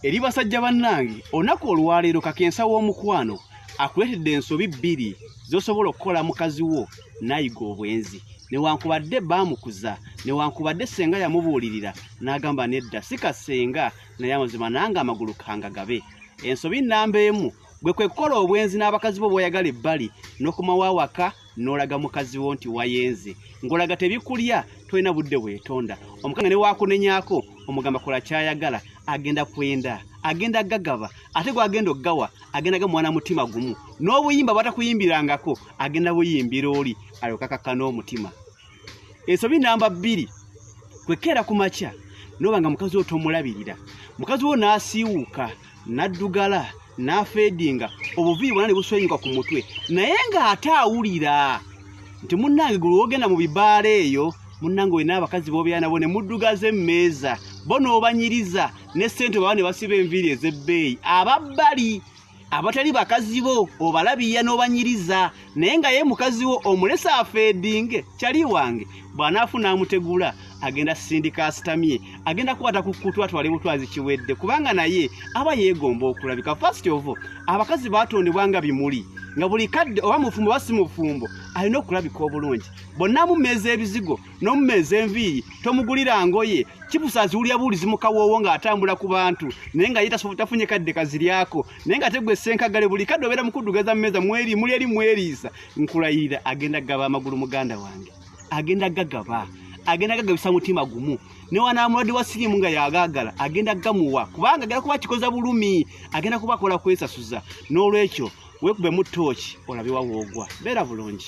eri basajja bannange olunaku olwaleero kakensa w'omukwano akuleetedde ensobi bbiri z'osobola okukola mukazi wo n'ayiga obwenzi newankubadde baamukuza newankubadde senga yamubuulirira n'agamba nedda si kasenga naye amazima nange amagulu kangagabe ensobi nnamba emu bwe kwe kukola obwenzi n'abakazi bo b'oyagala ebbali n'okomawo awaka n'olaga mukazi wo nti wayenze ng'olaga tebikulya tolina budde weetonda omukanga ne waakunenyako omugamba kola kyayagala agenda kwenda agenda gagaba ate gwagenda okugawa agenda ga mwana mutima gumu n'obuyimba bwatakuyimbirangako agenda buyimbira oli alokakaka n'omutima ensobi namba bbiri kwekeera ku makya noba nga mukazi wo tomulabirira mukazi wo n'asiiwuuka naddugala n'afeedinga obuviiri bwona ne buswenyuka ku mutwe naye ng'ate awulira nti munnange gwe wogenda mu bibaala eyo munnange olina abakazi boobeera nabo ne muddugaza emmeeza bo n'obanyiriza ne ssente baba ne basiba enviiri ez'ebbeeyi ababbali abatali bakazi bo obalabiya n'obanyiriza naye nga ye mukazi wo omulesa afeedinge kyali wange bw'anaafuna amutegula agenda sindika asitamye agenda kukwata ku kutu atwale butwazi kiwedde kubanga naye aba yeegomba okulabika fast ovo abakazi baatondebwa nga bimuli nga buli kadde oba mufumbo oba si mufumbo alina okulabika obulungi bonna mumeeza ebizigo n'omumeeza enviiri tomugulira ngoye kibusa aziwulira buwulizi mukawoowo ng'atambula ku bantu naye nga ye tafunye kadde kaziryako naye nga tegwe senkagale buli kadde obeera mukuddugaza mumeza mweri muli eri mweriisa nkulayirira agenda kugaba amagulu muganda wange agenda gagaba agenda gagabisa mutima gumu newanamulwadde wa sirimu nga yagagala agenda gamuwa kubanga agenda kuba kikoza bulumi agenda kuba akola kwesasuza n'olwekyo wekubemu tooki olabe wawoogwa beera bulungi